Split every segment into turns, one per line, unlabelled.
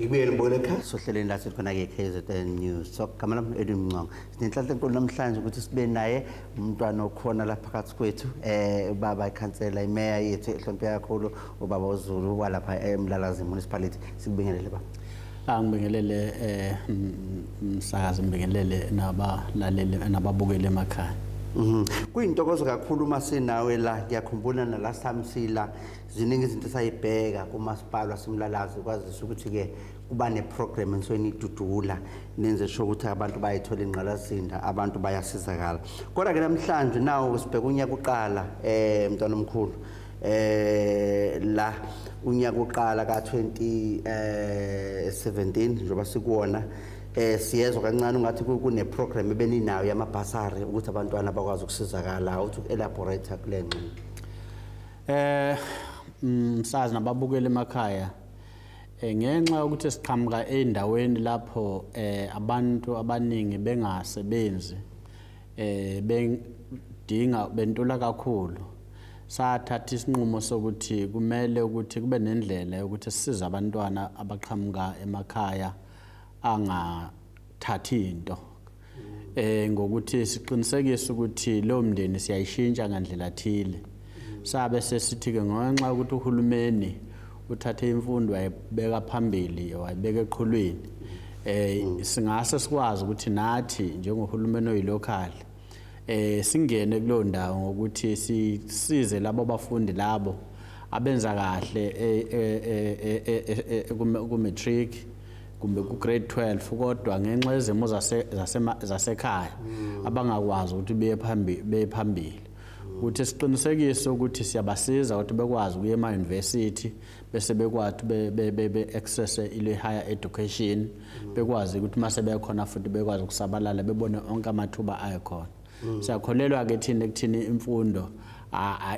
ngibuyele ngibuyele ekhaya sohleleni lathi khona-ke kzn news so gama lam edwin mncongo sinenhlanhla enkulu namhlanje ukuthi sibe naye umntwana okhona la phakathi kwethu um ubaba ikhansela imeya yethu ehloniphe kakhulu ubaba uzulu walapha emlalazi municipality sikubingelele baba angibingelele eh
msakazi ngibingelele nabalaleli nababukeli emakhaya Mhm. Kuyintokozo
kakhulu uma sinawe la ngiyakhumbula na last time sila ziningi izinto sayibheka kumasipala simlalazi kwazisa ukuthi ke kuba ne program ensweni idudula nenze sho ukuthi abantu bayithola ingqalazinda abantu bayasizakala. Kodwa ke namhlanje nawo sibheka unyaka uqala eh mntwana omkhulu eh la unyaka oqala ka 2017 eh, njengoba sikuwona eh siyezwa kancane ungathi kune program ebeninayo yama basari ukuthi abantwana bakwazi ukusizakala uthi uelaborate kule ngxi eh
msazi mm, nababukeli emakhaya eh, ngenxa yokuthi siqhamuka endaweni lapho eh abantu abaningi bengasebenzi eh bengidinga bentula kakhulu sathatha isinqumo sokuthi kumele ukuthi kube nendlela yokuthi sisize abantwana abaqhamuka emakhaya angathathi into eh ngokuthi siqinisekise ukuthi lo mndeni siyayishintsha ngandlela thile sabe sesithi-ke ngenxa yokuthi uhulumeni uthathe imfundo wayibeka phambili wayibeka eqhulwini um singase sikwazi ukuthi nathi njengohulumeni oyilokhali um singene kuleyo ndawo ngokuthi sisize labo bafundi labo abenza kahle e, e, e, kumatric kumbe ku-grade 12 kodwa ngenxa yezimo zasekhaya mm. abangakwazi ukuthi beye phambili ukuthi siqinisekise ukuthi siyabasiza ukuthi bekwazi ukuya ema-university bese bekwathi be-accesse ile-higher education bekwazi ukuthi uma sebekhona futhi bekwazi ukusabalala bebone onke amathuba ayekhona mm. siyakholelwa-ke thina ekuthini imfundo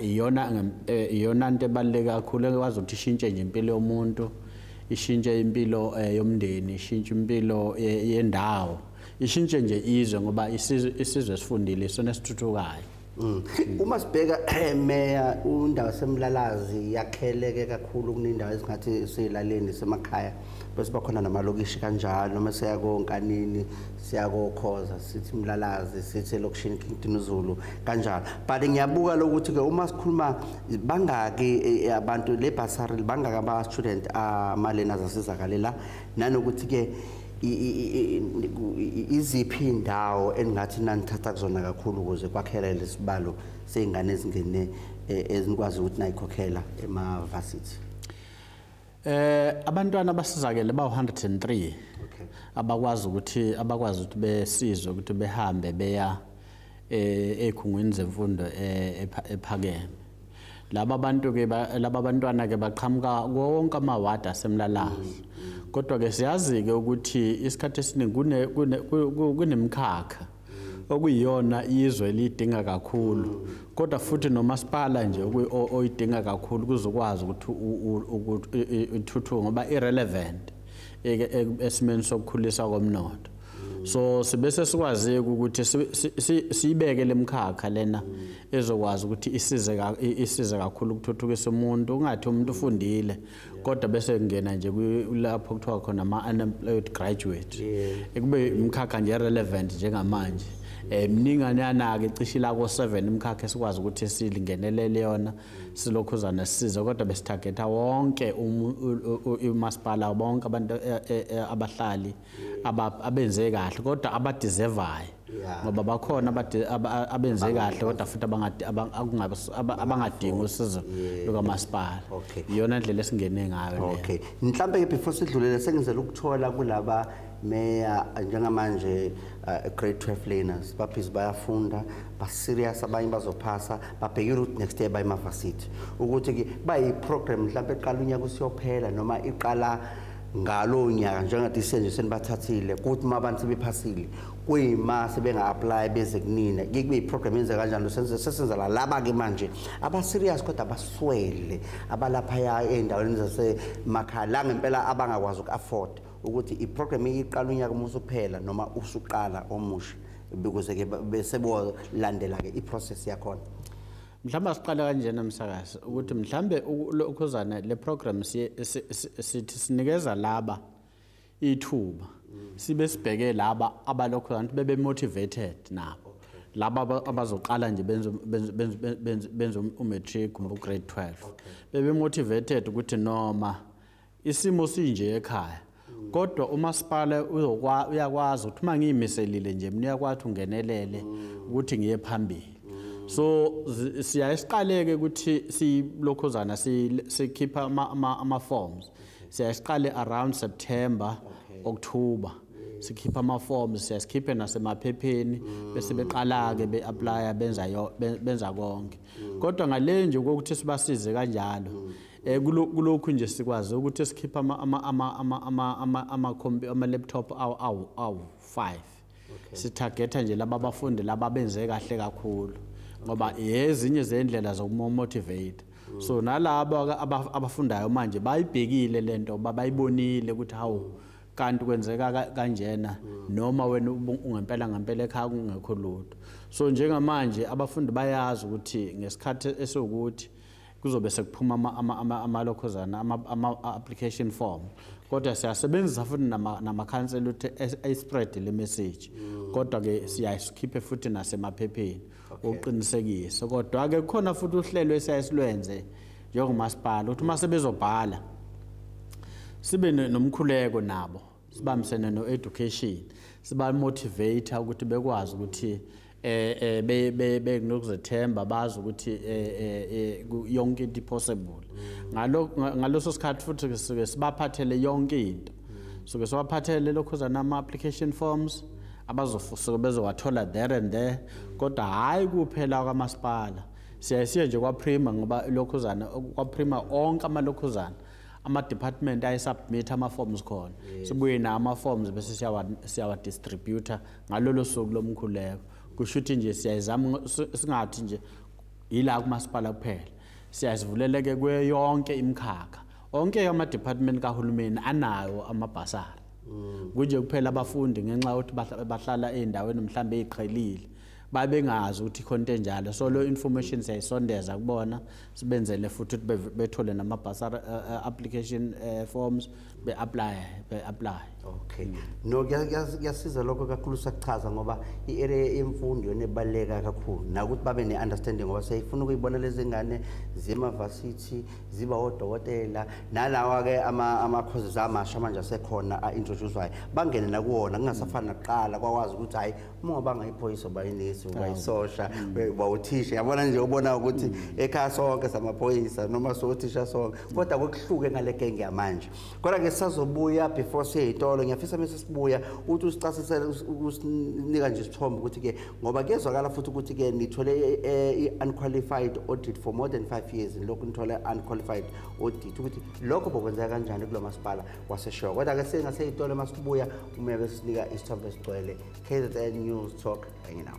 iyona eh, iyona nto ebaluleke kakhulu ekwazi ukuthi ishintshe nje impilo yomuntu ishintshe impilo eh, yomndeni ishintshe impilo eh, yendawo ye ishintshe nje izwe ngoba isizwe isizwe esifundile isona esithuthukayo mm. uma
sibheka eh, meya undawo semlalazi yakheleke kakhulu kunendawo esingathi siyilaleni semakhaya bese bakhona namalokishi kanjalo noma siyakonkanini siyakokhoza sithi mlalazi sithi elokishini kington zulu kanjalo but ngiyabuka lokuthi ke uma sikhuluma bangaki eh, eh, abantu le basari bangaki ama student amalena zasizakalela nanokuthi ke iziphi indawo engathi nanithatha kuzona kakhulu ukuze kwakhela lesibalo sezingane ezingene e, ezinikwazi ukuthi nayikhokhela ema varsity eh
abantwana basizakele ba 103 abakwazi ukuthi abakwazi ukuthi besizwe ukuthi behambe beya eh ekhungweni zemfundo eh, ephakeme laba bantu ke laba bantwana ke baqhamuka konke amawadi asemlalahle kodwa ke siyazi ke ukuthi isikhathi esiningi kune kunemkhakha okuyiyona izwe lidinga kakhulu kodwa futhi nomasipala nje oyidinga kakhulu kuzokwazi ukuthi ithuthuke ngoba irelevant esimeni sokukhulisa komnotho so sibe sesikwazi ukuthi siyibeke lemkhakha lena mm. ezokwazi ukuthi isize isize kakhulu ukuthuthukisa umuntu ungathi umuntu ufundile kodwa bese kungena nje lapho kuthiwa khona ama-unemployed graduate ekube imkhakha nje relevant njengamanje um mninganana-ke cishe ilako seven imkhakha esikwazi ukuthi silingenelele yona silokhuzana sisize kodwa besithagetha wonke umasipala bonke abantu e, e, e, abahlali abenze kahle kodwa abadeservayo ngoba bakhona abenze kahle kodwa futhi abangadingi usizo lukamasipala iyona ndlela esingene ngayo okay mhlawumbe ke
before sidlulele sengizela ukuthola kulaba meya njengamanje uh, grade 12 learners baphizi bayafunda baserious abanye bazophasa babheke ukuthi next year bayimavarsity ukuthi ke bayi program mhlawumbe eqala unyaka usiyophela noma iqala ngalowo nyaka njengathi isenje senibathathile kuthi uma abantu sebephasile kuyima sebenga-aplayi beze kunina ke kube yiprogram yenze kanjani sesenza la laba-ke manje abaserious kodwa abaswele abalaphaya ey'ndaweni zasemakhaya la ngempela abangakwazi uku-afford ukuthi iprogram iyiqala unyaka uma usuphela noma usuqala omusha ukuze-ke besebolandela-ke iprocess yakhona mhlawumbe
asiqale kanjena msakazi ukuthi mhlawumbe ukhuzane le program sithi sinikeza laba ithuba sibe sibheke laba abalokhu abantu bebe motivated nabo laba abazoqala nje benza benza benza umatric um, ugrade 12 bebe motivated ukuthi noma isimo sinje ekhaya kodwa umasipala uyakwazi ukuthi uma ngiyimiselile nje mina uyakwazi ukuthi ungenelele ukuthi ngiye phambili so siyaye siqaleke ukuthi silokhozana sikhipha ama-forms siyaye siqale around september october sikhipha ama-forms siyaye sikhiphe nasemaphepheni bese beqala-ke be-aplya benza konke kodwa ngale nje kokuthi sibasize kanjalo Eh, kulokhu nje sikwazi ukuthi esikhipha ama-laptop awu-five sithagetha nje laba bafundi laba benze kahle kakhulu ngoba yezinye zey'ndlela zokumomotivate so nalabo abafundayo manje bayibhekile le nto uba bayibonile ukuthi hawu kanti kwenzeka kanjena noma wena ungempela ngempela ekhaya kungekho lutho so njengamanje abafundi bayazi ukuthi ngesikhathi esiwukuthi kuzobe sekuphuma amalokhozana ama-application form kodwa siyasebenzisa futhi namakhansela ukuthi ayispread le message mm. kodwa-ke siyasikhiphe futhi nasemaphepheni ukuqinisekisa kodwa-ke kukhona futhi uhlelo esiyasilwenze njengomasipala ukuthi uma sebezobhala sibe nomkhuleko nabo sibambisene no-education sibamotivate ukuthi bekwazi ukuthi eh, eh be be benokuzethemba bazi ukuthi eh, eh, yonke into possible ngalo ngaloso sikhathi futhi sike sibaphathele yonke into sike siwaphathele lokho zanama application forms abazofusuka bezowathola there and there kodwa hayi kuphela kwamasipala siyayisiya nje kwaprima ngoba lokhuzana kwaprima onke amalokhuzana ama-department ayesubmit ama-forms khona yes. sibuye nawo ama-forms bese siyawadistributa ngalolo suku lomkhuleko kusho ukuthi nje siyayizama singathi nje yila kumasipala kuphela siyazivuleleke kuyo yonke imikhakha onke ama-department kahulumeni anayo amabhasari mm. kunje kuphela abafundi ngenxa yokuthi bahlala ey'ndaweni mhlawumbe ey'qhelile babengazi ukuthi khona into enjalo so lo information siyayisondeza kubona sibenzele futhi ukuthi bethole nama basar eh, eh, application eh, forms be apply be apply
okay no kuyasiza lokho kakhulu sakuchaza ngoba i area yemfundo nebaleka kakhulu nakuthi babe ne understanding ngoba siyifuna ukuyibona lezingane zima varsity ziba odokotela nalawa ke ama ama courses amasha manje asekhona a introducewayo bangene nakuwona kungasafani nakuqala kwakwazi ukuthi hayi uma ungabanga iphoyisa uba inesi uba isosha uba uthisha yabona nje ubona ukuthi ekhaya sonke samaphoyisa noma sothisha sonke kodwa kokuhluke ngale genge yamanje kodwa ke sisazobuya before siye yitolo ngiyafisa mese sibuya ukuthi usicasisele usinika nje isithombe ukuthi ke ngoba kuyezwakala futhi ukuthi ke nithole i-unqualified audit for more than five years lokhu nithole unqualified audit ukuthi lokho bokwenzeka kanjani kulo masipala waseshow kodwa ke singase itolo uma sibuya uma besinika isithombe esigcwele kzn news talk enye nawo